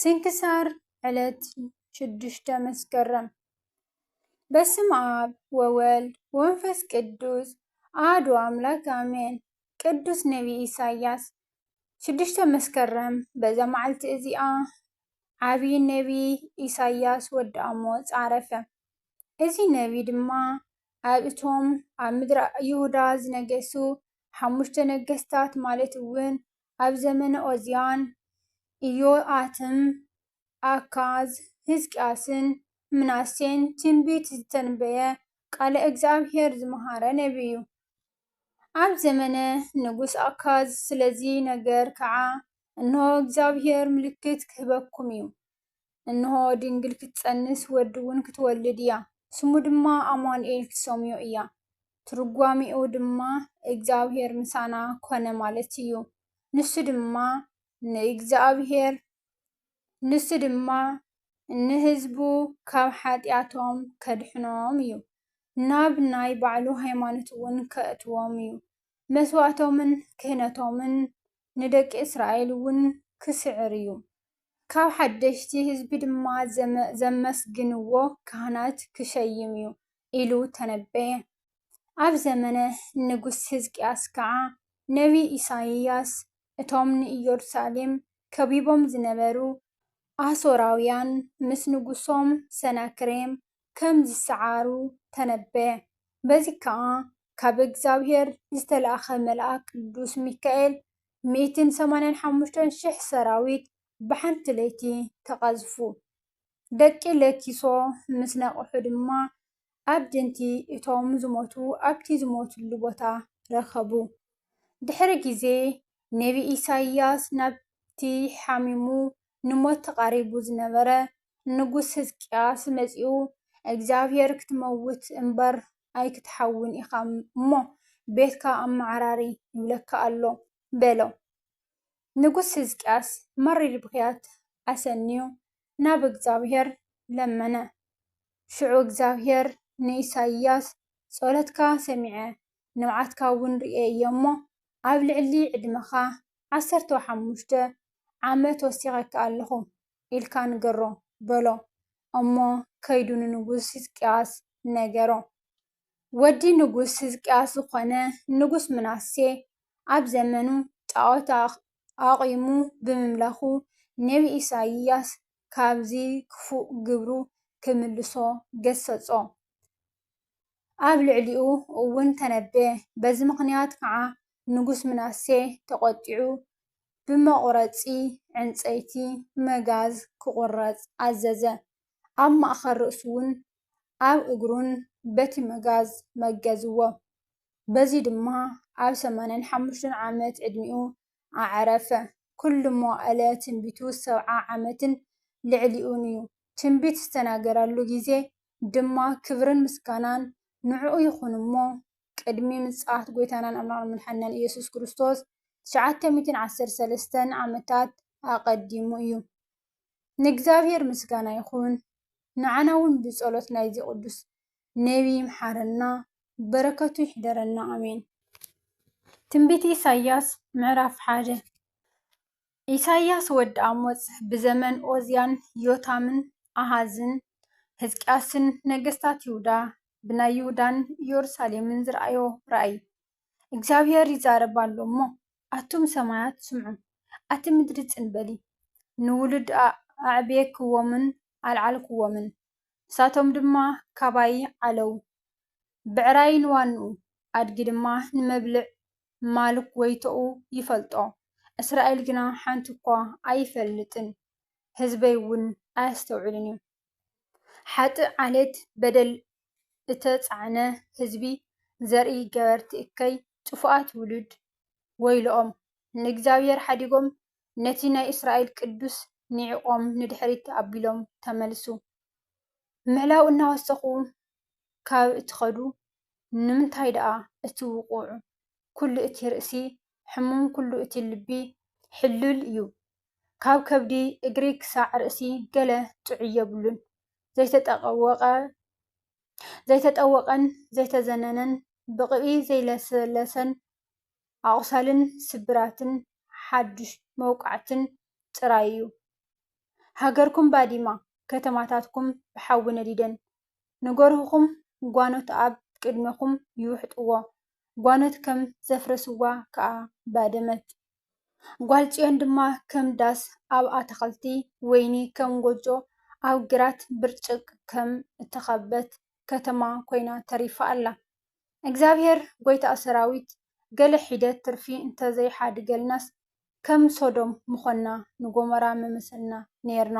ስንክሳር ዕለት ሽዱሽተ መስከረም በስም ኣብ ወወልድ ወንፈስ ቅዱስ ኣህዱ ኣምላክ ኣሜን። ቅዱስ ነቢይ ኢሳያስ ሽዱሽተ መስከረም በዛ መዓልቲ እዚኣ ዓብዪ ነቢይ ኢሳያስ ወዲ ኣሞፅ ዓረፈ። እዚ ነቢይ ድማ ኣብ እቶም ኣብ ምድረ ይሁዳ ዝነገሱ ሓሙሽተ ነገስታት ማለት እውን ኣብ ዘመነ ዖዝያን፣ ኢዮኣክምን፣ ኣካዝን፣ ህዝቅያስን፣ ምናሴን ትንቢት ዝተንበየ ቃለ እግዚኣብሄር ዝመሃረ ነቢይ'ዩ። ኣብ ዘመነ ንጉስ ኣካዝ ስለ'ዚ ነገር ከኣ እንሆ እግዚኣብሄር ምልክት ክህበኩም'ዩ፣ እንሆ፣ ድንግል ክትጸንስ ወዲ'ውን ክትወልድ እያ፣ ስሙ ድማ ኣማኑኤል ክትሰምዮ እያ፣ ትርጓሜኡ ድማ እግዚኣብሔር ምሳና ኰነ ማለት እዩ፣ ንሱ ድማ ንእግዚኣብሔር፣ ንሱ ድማ ንህዝቡ ካብ ሓጢኣቶም ከድሕኖም እዩ፣ ናብ ናይ ባዕሉ ሃይማኖት'ውን ከእትዎም እዩ፣ መስዋእቶምን ክህነቶምን ንደቂ እስራኤል'ውን ክስዕር እዩ። ካብ ሓደሽቲ ህዝቢ ድማ ዘመስግንዎ ካህናት ክሸይም እዩ ኢሉ ተነበየ። ኣብ ዘመነ ንጉስ ህዝቅያስ ከኣ ነብዪ ኢሳይያስ እቶም ንኢየሩሳሌም ከቢቦም ዝነበሩ ኣሶራውያን ምስ ንጉሶም ሰናክሬም ከም ዝሰዓሩ ተነበየ። በዚ ከኣ ካብ እግዚኣብሔር ዝተላእከ መልኣክ ቅዱስ ሚካኤል ሚእትን ሰማንያን ሓሙሽተን ሽሕ ሰራዊት ብሓንቲ ለይቲ ተቐዝፉ። ደቂ ለኪሶ ምስ ነቕሑ ድማ ኣዕድንቲ እቶም ዝሞቱ ኣብቲ ዝሞቱሉ ቦታ ረኸቡ። ድሕሪ ግዜ፣ ነብዪ ኢሳይያስ ናብቲ ሓሚሙ ንሞት ተቓሪቡ ዝነበረ ንጉስ ህዝቅያስ መጺኡ፣ እግዚኣብሄር ክትመውት እምበር ኣይክትሓውን ኢኻ እሞ፣ ቤትካ ኣመዓራሪ ይብለካ ኣሎ፣ በሎ። ንጉስ ህዝቅያስ መሪር ብኽያት ኣሰንዩ ናብ እግዚኣብሄር ለመነ። ሽዑ እግዚኣብሄር ንኢሳይያስ፣ ጸሎትካ ሰሚዐ፣ ንብዓትካ እውን ርእየ እየ እሞ፣ ኣብ ልዕሊ ዕድመኻ ዓሰርተው ሓሙሽተ ዓመት ወሲኸካ ኣለኹ፣ ኢልካ ንገሮ፣ በሎ። እሞ ከይዱ ንንጉስ ህዝቅያስ ነገሮ። ወዲ ንጉስ ህዝቅያስ ዝኾነ ንጉስ ምናሴ ኣብ ዘመኑ ጣዖት ኣቚሙ ብምምላኹ ነብዪ ኢሳይያስ ካብዚ ክፉእ ግብሩ ክምልሶ ገሰጾ። ኣብ ልዕሊኡ እውን ተነበየ። በዚ ምኽንያት ከዓ ንጉስ ምናሴ ተቖጢዑ ብመቝረጺ ዕንጸይቲ፣ መጋዝ፣ ኪቝረጽ ኣዘዘ። ኣብ ማእከል ርእሱን ኣብ እግሩን በቲ መጋዝ መገዝዎ። በዚ ድማ ኣብ ሰማንያን ሓሙሽተን ዓመት ዕድሚኡ ኣዕረፈ። ኵሉ መዋእለ ትንቢቱ ሰብዓ ዓመትን ልዕሊኡን እዩ፣ ትንቢት ዝተናገረሉ ግዜ ድማ ክብርን ምስጋናን ንዕኡ ይኹን እሞ ቅድሚ ምጽኣት ጎይታናን ኣምላኽናን መድሓኒናን ኢየሱስ ክርስቶስ ትሽዓተ ሚእትን ዓሰርተ ሰለስተን ዓመታት ኣቐዲሙ እዩ። ንእግዚኣብሔር ምስጋና ይኹን፣ ንዓና ውን ብጸሎት ናይዚ ቅዱስ ነቢ ይምሓረና፣ በረከቱ ይሕደረና ኣሜን። ትንቢት ኢሳይያስ ምዕራፍ ሓደ። ኢሳይያስ ወዲ ኣሞጽ ብዘመን ኦዝያን ዮታምን ኣሃዝን ህዝቅያስን ነገስታት ይሁዳ ብናይ ይሁዳን ኢዮሩሳሌምን ዝረኣዮ ራእይ እግዚኣብሄር ይዛረብ ኣሎ እሞ ኣቱም ሰማያት ስምዑ ኣቲ ምድሪ ጽን በሊ ንውሉድ ኣዕብየክዎምን ኣልዓልክዎምን ንሳቶም ድማ ካባይ ዓለው ብዕራይ ንዋንኡ ኣድጊ ድማ ንመብልዕ ማልክ ጎይቶኡ ይፈልጦ፣ እስራኤል ግና ሓንቲ እኳ ኣይፈልጥን፣ ህዝበይ እውን ኣየስተውዕልን እዩ። ሓጥእ ዓሌት በደል እተጻዕነ ህዝቢ፣ ዘርኢ ገበርቲ እከይ፣ ጥፉኣት ውሉድ፣ ወይለኦም! ንእግዚኣብሄር ሓዲጎም፣ ነቲ ናይ እስራኤል ቅዱስ ንዒቖም ንድሕሪት ኣቢሎም ተመልሱ። ምዕላው እናወሰኹ ካብ እትኸዱ፣ ንምንታይ ደኣ እቲ ውቑዕ ኩሉ እቲ ርእሲ ሕሙም ኩሉ እቲ ልቢ ሕሉል እዩ ካብ ከብዲ እግሪ ክሳዕ ርእሲ ገለ ጥዑይ የብሉን ዘይተጠወቐ ዘይተጠወቐን ዘይተዘነነን ብቕብኢ ዘይለሰለሰን ኣቑሳልን ስብራትን ሓዱሽ መውቃዕትን ጥራይ እዩ። ሃገርኩም ባዲማ፣ ከተማታትኩም ብሓዊ ነዲደን። ንገርሁኹም ጓኖት ኣብ ቅድሜኹም ይውሕጥዎ፣ ጓኖት ከም ዘፍረስዋ ከኣ ባደመት። ጓል ጽዮን ድማ ከም ዳስ ኣብ ኣታኽልቲ ወይኒ፣ ከም ጎጆ ኣብ ግራት ብርጭቅ ከም እተኸበት ከተማ ኮይና ተሪፋ ኣላ። እግዚኣብሄር ጐይታ ሰራዊት ገለ ሒደት ትርፊ እንተ ዘይሓድገልናስ ከም ሶዶም ምዀንና ንጎሞራ ምመሰልና ኔርና።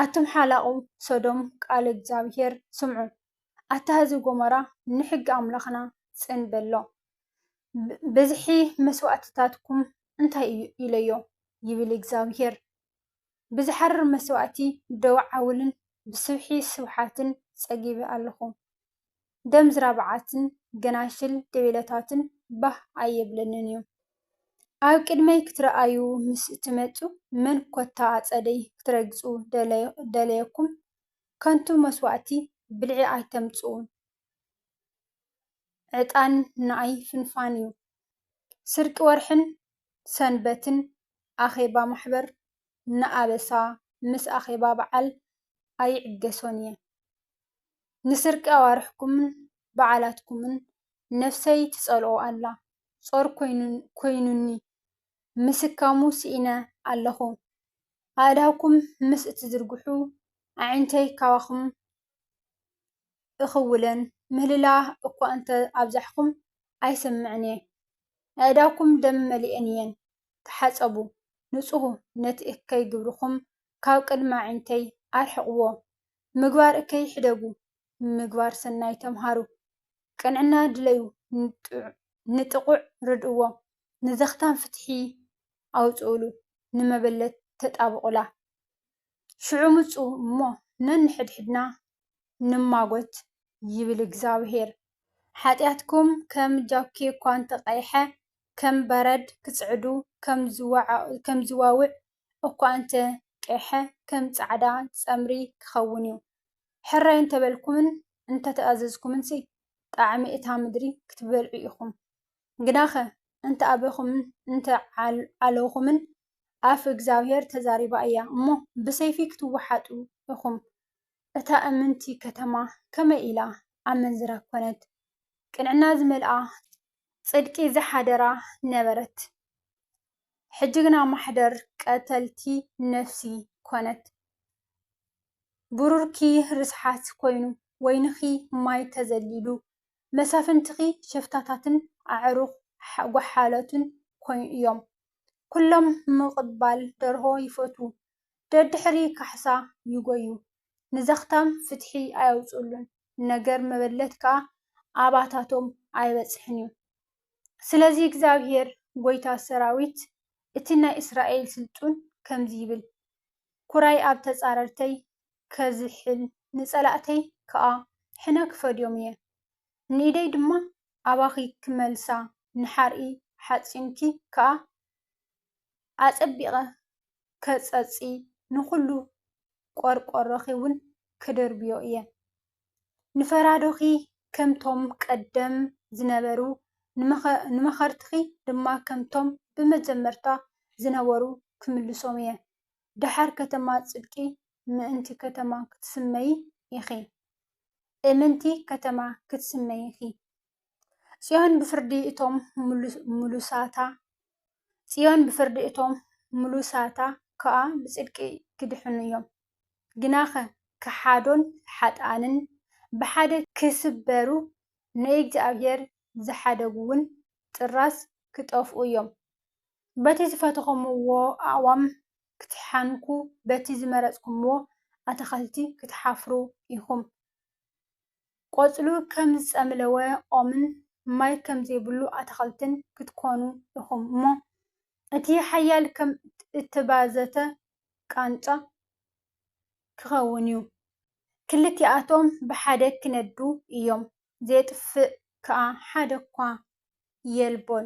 ኣቱም ሓላቑ ሶዶም ቃል እግዚኣብሄር ስምዑ ኣታ ህዝቢ ጎሞራ ንሕጊ ኣምላኽና ጽን በሎ ብዝሒ መስዋእትታትኩም እንታይ እዩ ኢለዮ ይብል እግዚኣብሄር። ብዝሓርር መስዋእቲ ደው ዓውልን ብስብሒ ስብሓትን ጸጊበ ኣለኹ። ደም ዝራብዓትን ገናሽል ገቤላታትን ባህ ኣየብለንን እዩ። ኣብ ቅድመይ ክትርኣዩ ምስ እትመጹ መን ኮታ ኣጸደይ ክትረግጹ ደለየኩም? ከንቱ መስዋእቲ ብልዒ ኣይተምጽኡ። ዕጣን ንኣይ ፍንፋን እዩ። ስርቂ ወርሕን ሰንበትን ኣኼባ ማሕበር ንኣበሳ ምስ ኣኼባ በዓል ኣይዕገሶን እየ። ንስርቂ ኣዋርሕኩምን በዓላትኩምን ነፍሰይ ትጸልኦ ኣላ። ጾር ኮይኑኒ ምስካሙ ስኢነ ኣለኹ። ኣእዳውኩም ምስ እትዝርግሑ ኣዒንተይ ካባኹም እኽውለን ምህልላ እኳ እንተ ኣብዛሕኩም ኣይሰምዕን እየ። ኣእዳውኩም ደም መሊኤን እየን። ተሓጸቡ፣ ንጽሁ፣ ነቲ እከይ ግብርኹም ካብ ቅድሚ ኣዒንተይ ኣርሕቕዎ። ምግባር እከይ ሕደጉ፣ ምግባር ሰናይ ተምሃሩ። ቅንዕና ድለዩ፣ ንጥቑዕ ርድእዎ፣ ንዘኽታም ፍትሒ ኣውጽኡሉ፣ ንመበለት ተጣብቑላ። ሽዑ ምጹ እሞ ነንሕድሕድና ንማጐት ይብል እግዚኣብሄር። ሓጢኣትኩም ከም ጃኪ እኳ እንተ ቐይሐ፣ ከም በረድ ክጽዕዱ፣ ከም ዝዋውዕ እኳ እንተ ቄሐ፣ ከም ጻዕዳ ጸምሪ ክኸውን እዩ። ሕራይ እንተ በልኩምን እንተ ተኣዘዝኩምንሲ፣ ጣዕሚ እታ ምድሪ ክትበልዑ ኢኹም። ግናኸ እንተ ኣበኹምን እንተ ዓለኹምን፣ ኣፍ እግዚኣብሄር ተዛሪባ እያ እሞ፣ ብሰይፊ ክትወሓጡ ኢኹም። እታ እምንቲ ከተማ ከመይ ኢላ ኣመንዝራ ኰነት፣ ቅንዕና ዝመልኣ፣ ጽድቂ ዝሓደራ ነበረት፣ ሕጂ ግና ማሕደር ቀተልቲ ነፍሲ ኰነት። ብሩርኪ ርስሓት ኰይኑ፣ ወይንኺ ማይ ተዘሊሉ፣ መሳፍንትኺ ሸፍታታትን ኣዕሩኽ ጓሓላትን እዮም። ኵሎም ምቕባል ደርሆ ይፈትዉ፣ ደድሕሪ ካሕሳ ይጐዩ፣ ንዘኽታም ፍትሒ ኣየውጽኡሉን፣ ነገር መበለት ከኣ ኣባታቶም ኣይበጽሕን እዩ። ስለዚ እግዚኣብሄር ጐይታ ሰራዊት፣ እቲ ናይ እስራኤል ስልጡን ከምዚ ይብል፣ ኵራይ ኣብ ተጻረርተይ ከዝሕል፣ ንጸላእተይ ከኣ ሕነ ክፈድዮም እየ። ንኢደይ ድማ ኣባኺ ክመልሳ፣ ንሓርኢ ሓጺንኪ ከኣ ኣጸቢቐ ከጸጺ፣ ንኹሉ ቈርቈሮኺውን ክድርብዮ እየ። ንፈራዶኺ ከምቶም ቀደም ዝነበሩ፣ ንመኸርትኺ ድማ ከምቶም ብመጀመርታ ዝነበሩ ክምልሶም እየ። ደሓር ከተማ ጽድቂ ምእንቲ ከተማ ክትስመዪ ኢኺ፣ እምንቲ ከተማ ክትስመዪ ኢኺ። ጽዮን ብፍርዲ እቶም ምሉሳታ ጽዮን ብፍርዲ እቶም ምሉሳታ ከኣ ብጽድቂ ኪድሕኑ እዮም። ግናኸ ከሓዶን ሓጥኣንን ብሓደ ኪስበሩ፣ ንእግዚኣብሄር ዝሓደጉውን ጥራዝ ኪጠፍኡ እዮም። በቲ ዝፈተኹምዎ ኣእዋም ክትሓንኩ፣ በቲ ዝመረጽኩምዎ ኣታኽልቲ ክትሓፍሩ ኢኹም። ቆጽሉ ከም ዝጸምለወ ኦምን ማይ ከም ዘይብሉ ኣታኽልትን ክትኮኑ ኢኹም እሞ፣ እቲ ሓያል ከም እተባዘተ ቃንጫ ክኸውን እዩ። ክልቲኣቶም ብሓደ ክነዱ እዮም፣ ዜጥፍእ ከኣ ሓደኳ የልቦን።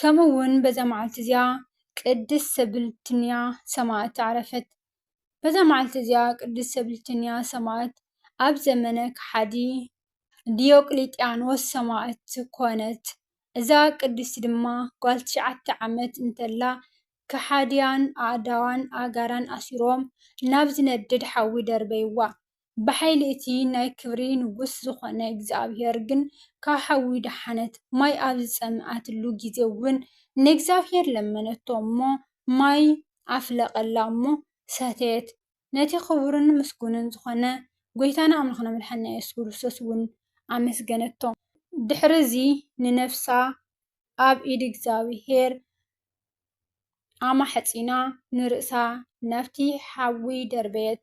ከምኡ እውን በዛ መዓልቲ እዚኣ ቅድስት ሰብልትንያ ሰማእት ዓረፈት። በዛ መዓልቲ እዚኣ ቅድስት ሰብልትንያ ሰማእት ኣብ ዘመነ ከሓዲ ዲዮቅልጥያኖስ ሰማእት ኮነት። እዛ ቅድስቲ ድማ ጓል ትሽዓተ ዓመት እንተላ ከሓድያን ኣእዳዋን ኣእጋራን ኣሲሮም ናብ ዝነድድ ሓዊ ደርበይዋ። ብሓይሊ እቲ ናይ ክብሪ ንጉስ ዝዀነ እግዚኣብሄር ግን ካብ ሓዊ ደሓነት። ማይ ኣብ ዝጸምኣትሉ ግዜ እውን ንእግዚኣብሄር ለመነቶ እሞ፣ ማይ ኣፍለቐላ እሞ ሰተየት። ነቲ ኽቡርን ምስጉንን ዝዀነ ጐይታና ኣምላኽና መድሓኒና የሱስ ክርስቶስ እውን ኣመስገነቶ። ድሕርዚ ንነፍሳ ኣብ ኢድ እግዚኣብሄር ኣማሕጺና ንርእሳ ናብቲ ሓዊ ደርበየት።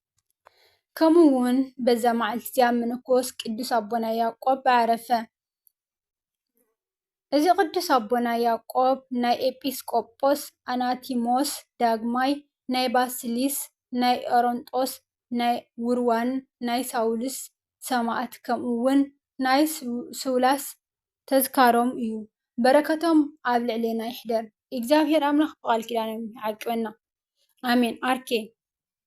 ከምኡ ውን በዛ መዓልቲ እዚኣ ምንኮስ ቅዱስ ኣቦና ያዕቆብ ምዓረፈ። እዚ ቅዱስ ኣቦና ያዕቆብ ናይ ኤጲስቆጶስ ኣናቲሞስ ዳግማይ፣ ናይ ባስልዮስ፣ ናይ ኦሮንጦስ፣ ናይ ዉርዋን፣ ናይ ሳዊሮስ ሰማእት ከምኡ ውን ናይ ሱላስ ተዝካሮም እዩ። በረከቶም ኣብ ልዕሌና ይሕደር። እግዚኣብሔር ኣምላክ ብቃል ኪዳኖም ይዓቅበና ኣሜን። ኣርኬ።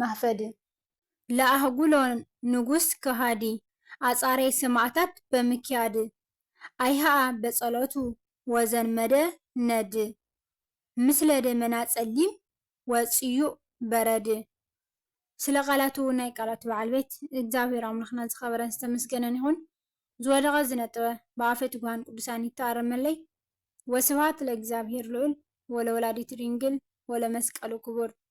ማህፈዲ። ለኣህጉሎ ንጉስ ከሃዲ ኣጻሬ ሰማእታት በምክያድ ኣይሃኣ በጸሎቱ ወዘንመደ ነድ ምስለ ደመና ጸሊም ወጽዩእ በረድ ስለ ቃላቱ ናይ ቃላቱ በዓል ቤት እግዚኣብሔር ኣምላኽና ዝኸበረን ዝተመስገነን ይኹን ዝወደቐ ዝነጠበ ብኣፈ ትጉሃን ቅዱሳን ይተኣረመለይ ወስብሃት ለእግዚኣብሔር ልዑል ወለወላዲቱ ድንግል ወለመስቀሉ ክቡር